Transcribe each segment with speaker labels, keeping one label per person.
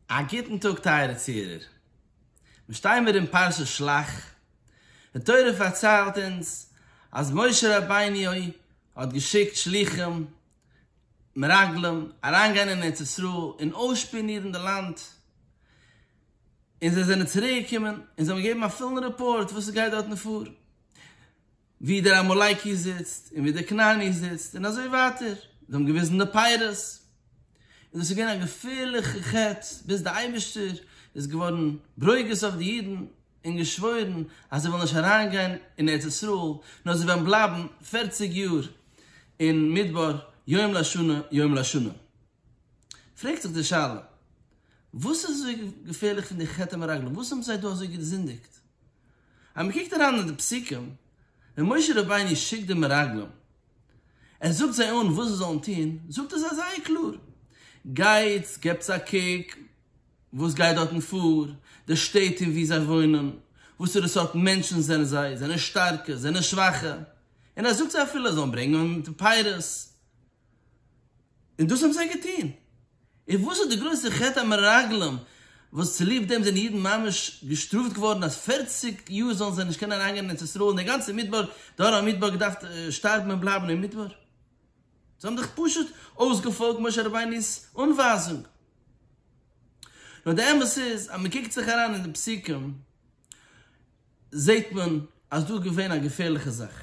Speaker 1: א גוטן טאג טייערע צוהערער. מיר שטייען מיר אין פרשת שלח. די תורה פארציילט אונז אז משה רבינו האט געשיקט שלוחים, מרגלים, אריינגיין אין ארץ ישראל און אויסשפיאנירן די לאנד. און זיי זענען צוריקגעקומען און זיי האבן געגעבן א פולן רעפארט וואס עס גייט דארטן פאר. ווי דער עמלקי זיצט און ווי דער כנעני זיצט און אזוי ווייטער, זיי האבן געוויזן די פירות, און דאס איז געווען א געפערליכע חטא, ביז דער אייבערשטער איז געווארן ברוגז אויף די אידן און געשוואוירן אז זיי וועלן נישט אריינגיין אין ארץ ישראל, נאר זיי וועלן בלייבן פערציג יאר אין מדבר יום לשנה יום לשנה. פרעגט זיך די שאלה, וואס איז אזוי געפערליך פון די חטא המרגלים? וואס האבן זיי דא אזוי געזינדיגט? אז מען קוקט אריין אין די פסוקים ווען משה רבינו שיקט די מרגלים, ער זאגט זיי אן וואס זיי זאלן טון, זאגט ער זיי זייער קלאר, גייטס געבטס א קוק וואס גייט דארטן פאר, די שטעט און וואו זיי וואוינען, וואסערע סארט מענטשן זענען זיי, זענען שטארקע, זענען שוואכע, און ער זאגט זיי אפילו זיי זאלן ברענגען פירות, און דאס האבן זיי געטון. און וואס איז די גרויסע חטא המרגלים וואס צוליב דעם זענען אידן ממש געשטראפט געווארן אז פֿערציק יאר זאלן זיי נישט קענען אריינגיין אין ארץ ישראל און דער גאנצער מדבר, דור המדבר געדארפט שטארבן און בלייבן אין מדבר? זיי האבן דאך פשוט אויסגעפאלגט משה רבינו'ס אנווייזונג. נאר די אמת איז אז מען קוקט זיך אריין אין די פסוקים זעט מען אז דא איז געווען א געפערליכע זאך.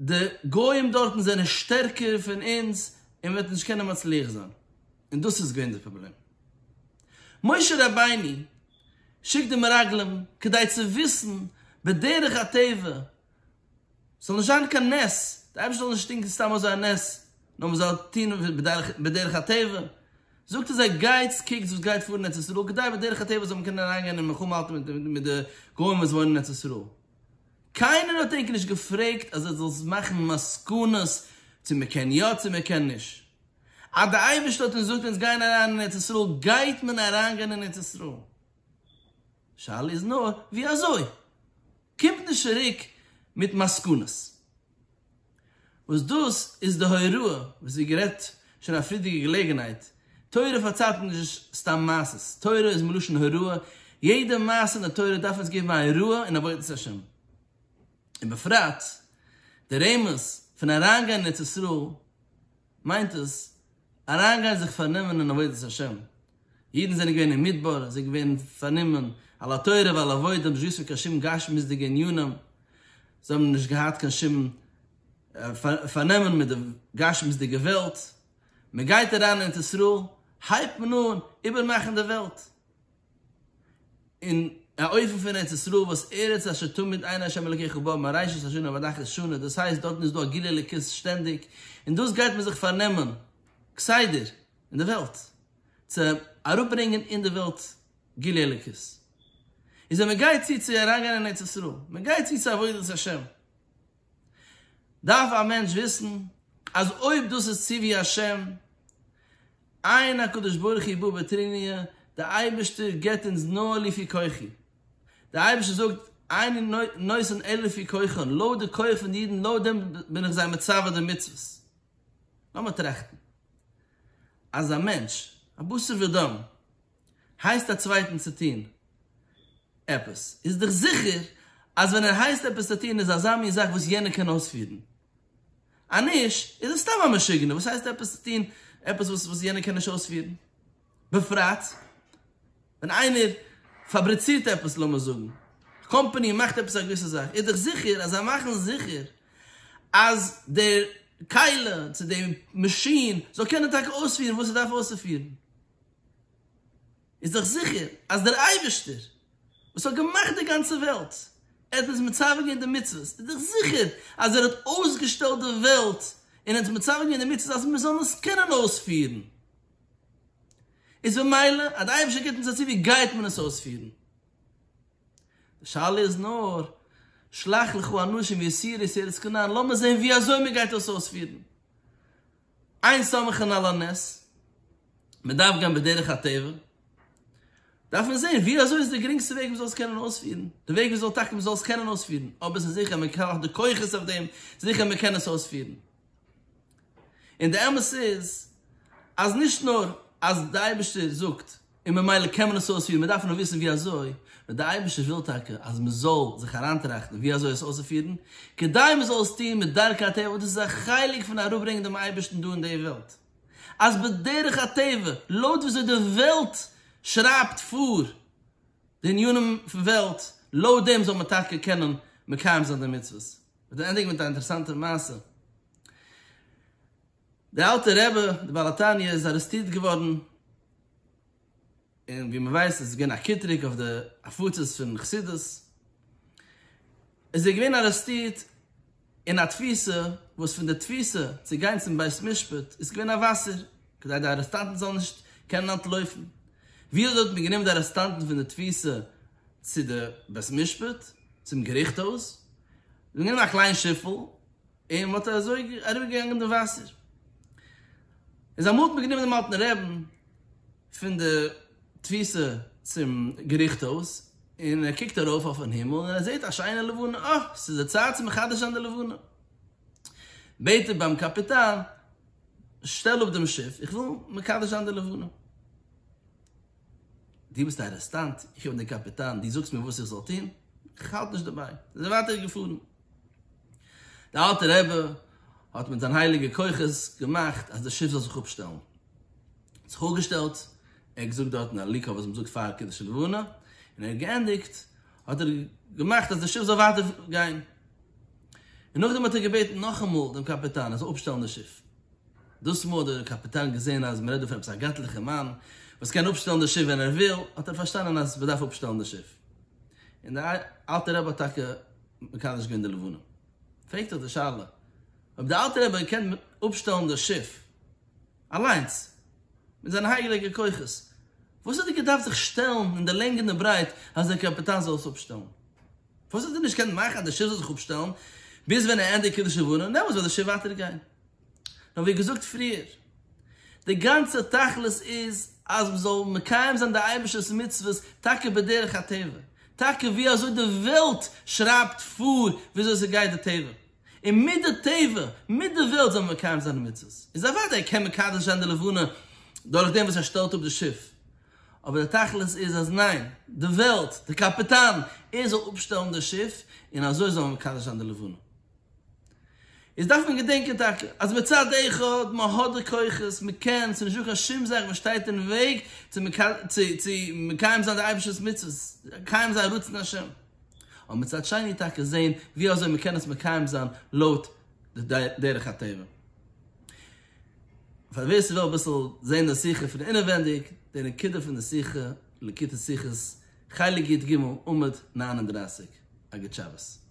Speaker 1: די גוים דארטן זענען שטערקער פון אונז און מען וועט נישט קענען מצליח זיין, און דאס איז געווען די פראבלעם. משה רבינו שיקט די מרגלים כדי צו וויסן בדרך הטבע ס'זאל נישט זיין קיין נס, די אייבערשטער זאל נישט טון סתם אזוי א נס, נאר מען זאל טון בדרך הטבע, זאגט ער זיי גייטס קוקטס וואס גייט פאר אין ארץ ישראל כדי בדרך הטבע זאל מען קענען אריינגיין אין מלחמה האלטן מיט די גוים וואס וואוינען אין ארץ ישראל. קיינער האט ענק נישט געפרעגט אז ער זאל מאכן מסקנות צו מען קען יא צו מען קען נישט. אז דער אייבערשטער האט אונז געזאגט אונז גייען אריין אין ארץ ישראל גייט מען אריין גיין אין ארץ ישראל. שאלה איז נאר ווי אזוי. קומט נישט צוריק מיט מסקנות. וואס דאס איז די הוראה וואס ווי גערעדט שוין א פריערדיגע געלעגנהייט, תורה פארציילט אונז נישט סתם מעשות, תורה איז מלשון הוראה, יעדע מעשה אין די תורה דארף אונז געבן א הוראה אין עבודת השם, ובפרט די רמז פון אריינגיין אין ארץ ישראל, מיינט עס, אריינגיין זיך פארנומען אין עבודת השם. אידן זענען געווען אין מדבר, זיי געווען פארנומען על התורה ועל עבודה, נישט געוואוסט פון קיין שום גשמיות'דיגע ענינים, זיי האבן נישט געהאט קיין שום פארנעמען מיט די גשמיות'דיגע וועלט. מען גייט אריין אין ארץ ישראל, הייבט מען אן איבערמאכן די וועלט. אין א אופן פון ארץ ישראל וואס ארץ אשר תמיד עיני השם אלוקיך בה מראשית השנה ועד אחרית שנה, דאס הייסט דארטן איז דא א גילוי אלוקות שטענדיג, און דאס גייט מען זיך פארנעמען כסדר אין די וועלט, צו אראפברענגען אין די וועלט גילוי אלוקות, איז ווען מען גייט צו צו אריינגיין אין ארץ ישראל, מען גייט צו צו עבודת השם. דארף א מענטש וויסן אז אויב דאס איז ציווי השם, עיין הקדוש ברוך הוא בו בתריניא, דער אייבערשטער געבט אונז נאר לפי כוחי, דער אייבערשטער זאגט אני נותן אלא לפי כוחן, לויט די כח פון די אידן, לויט דעם בין איך זיי מצווה די מצוות. לאמיר טראכטן, אז א מענטש, א בשר ודם, הייסט א צווייטן צו טון עפעס, איז דיך זיכער אז ווען ער הייסט עפעס צו טון איז אזא מין זאך וואס יענער קען אויספירן. אז נישט איז ער סתם א משוגענער, וואס הייסט עפעס צו טון עפעס וואס יענער קען נישט אויספירן? בפרט ווען איינער פאבריצירט עפעס, לאמיר זאגן א קאמפאני מאכט עפעס א געוויסע זאך, איז דיך זיכער אז זיי מאכן זיכער אז דער כלה צו דער מאשין זאל קענען טאקע אויספירן וואס עס דארף אויסצופירן. איז דאך זיכער אז דער אייבערשטער וואס האט געמאכט די גאנצע וועלט, ער האט אונז מצווה געווען די מצוות, איז דאך זיכער אז ער האט אויסגעשטעלט די וועלט און אונז מצווה געווען די מצוות אז מיר זאלן עס קענען אויספירן, איז במילא אז דער אייבערשטער גיבט אונז א צו ווי גייט מען עס אויספירן? די שאלה איז נאר, שלח לך אנשים יסירי סערת כנען, לאמיר זען ווי אזוי מען גייט דאס אויספירן. איין סמכין על הנס, מען דארף גיין בדרך הטבע, דארף מען זען ווי אזוי איז די גרינגסטע וועג מען זאל עס קענען אויספירן, די וועג וויאזוי טאקע מען זאל עס קענען אויספירן, אויב עס איז זיכער מען האט די כוחות אויף דעם, זיכער מען קען עס אויספירן. און די אמת איז אז נישט נאר אז די אייבערשטער זאגט און ממילא קען מען עס אויספירן, מיר דארפן נאר וויסן ווי אזוי, ווען דער אייבערשטער וויל טאקע אז מען זאל זיך אריינטראכטן ווי אזוי עס אויסצופירן, כדי מען זאל עס טון מיט דרכי הטבע, וואס דאס איז א חלק פון אראפברענגען דעם אייבערשטן דא אין די וועלט, אז בדרך הטבע, לויט ווי אזוי די וועלט שרייבט פאר די עניינים פון וועלט, לויט דעם זאל מען טאקע קענען מקיים זיין די מצוות. כ'וועל ענדיגן מיט א אינטערעסאנטע מעשה. דער אלטער רבי, דער בעל התניא, איז ארעסטירט געווארן, און ווי מען ווייסט איז עס געווען א קטרוג אויף די הפצות פון חסידות, איז ער געווען ארעסטירט אין א תפיסה, וואס פון די תפיסה צו גיין צום בית משפט איז געווען א וואסער, כדי די ארעסטאנטן זאלן נישט קענען אנטלויפן, וויאזוי האט מען גענומען די ארעסטאנטן פון די תפיסה צו די בית משפט, צום געריכט הויז, מען האט גענומען א קליין שיפל, און מען האט אזוי אריבערגעגאנגען דעם וואסער. און זיי האבן מיטגענומען דעם אלטן רעבן פון די תפיסה צום געריכט הויז, און ער קוקט ארויף אויפן הימל און ער זעט א שיינע לבנה, אה, ס'איז די צייט צו מחדש זיין די לבנה. בעט ער ביים קאפיטאן, שטעל אפ דעם שיף, איך וויל מקדש זיין די לבנה. דו ביסט א ארעסטאנט, איך בין דער קאפיטאן, דו זאגסט מיר וואס איך זאל טון? איך האלט נישט דערביי. זיי זענען ווייטער געפארן. דער אלטער רבי האט מיט זיין הייליגע כוחות געמאכט אז די שיף זאל זיך אפשטעלן. האט זיך אפגעשטעלט, ער האט געזאגט דארטן א ליקוט וואס מ'זאגט פאר קידוש לבנה, און ער האט געענדיגט האט ער געמאכט אז די שיף זאל ווייטער גיין. און נאכדעם האט ער געבעטן נאכאמאל דעם קאפיטאן ער זאל אפשטעלן די שיף. דאס מאל האט דער קאפיטאן געזען אז מ'רעדט דא פון עפעס א גאטליכער מאן וואס קען אפשטעלן די שיף ווען ער וויל, האט ער פארשטאנען אז מ'דארף אפשטעלן די שיף. און דער אלטער רבי האט טאקע מקדש געווען די לבנה. פרעגט זיך די שאלה, אויב דער אלטער רבי האט געקענט אפשטעלן דאס שיף אליינס מיט זיינע הייליגע כוחות, פארוואס האט ער געדארפט זיך שטעלן אין די לענג און די ברייט אז דער קאפיטאן זאל עס אפשטעלן? פארוואס האט ער נישט געקענט מאכן אז די שיף זאל זיך אפשטעלן ביז ווען ער ענדיגט קידוש לבנה, און דעמאלטס וועט די שיף ווייטער גיין? נאר ווי געזאגט פריער, די גאנצע תכלית איז אז מען זאל מקיים זיין די אייבערשטער'ס מצוות טאקע בדרך הטבע, טאקע ווי אזוי די וועלט שרייבט פאר ווי אזוי ס'גייט די טבע, און מיט די טבע, מיט די וועלט זאל מען מקיים זיין די מצוות. איז אוודאי קען מען מקדש זיין די לבנה דורך דעם וואס ער שטעלט אפ די שיף, אבער די תכלית איז אז ניין, די וועלט, די קאפיטאן, ער זאל אפשטעלן די שיף און אזוי זאל מען מקדש זיין די לבנה. איז דארף מען געדענקען טאקע אז מצד אחד מען האט די כוחות, מען קען, ס'איז נישטא קיין שום זאך וואס שטייט אין וועג צו מקיים זיין די אייבערשטער'ס מצוות, מקיים זיין רצון השם, אבער מצד שני טאקע זען ווי אזוי מען קען עס מקיים זיין לויט די דרך הטבע. פאר ווער ס'וויל אביסל זען די שיחה פון אינעווענדיג, די נקודה פון די שיחה, לקוטי שיחות, חלק יג, עמוד נײַן און דרײַסיק, א גוט שבת.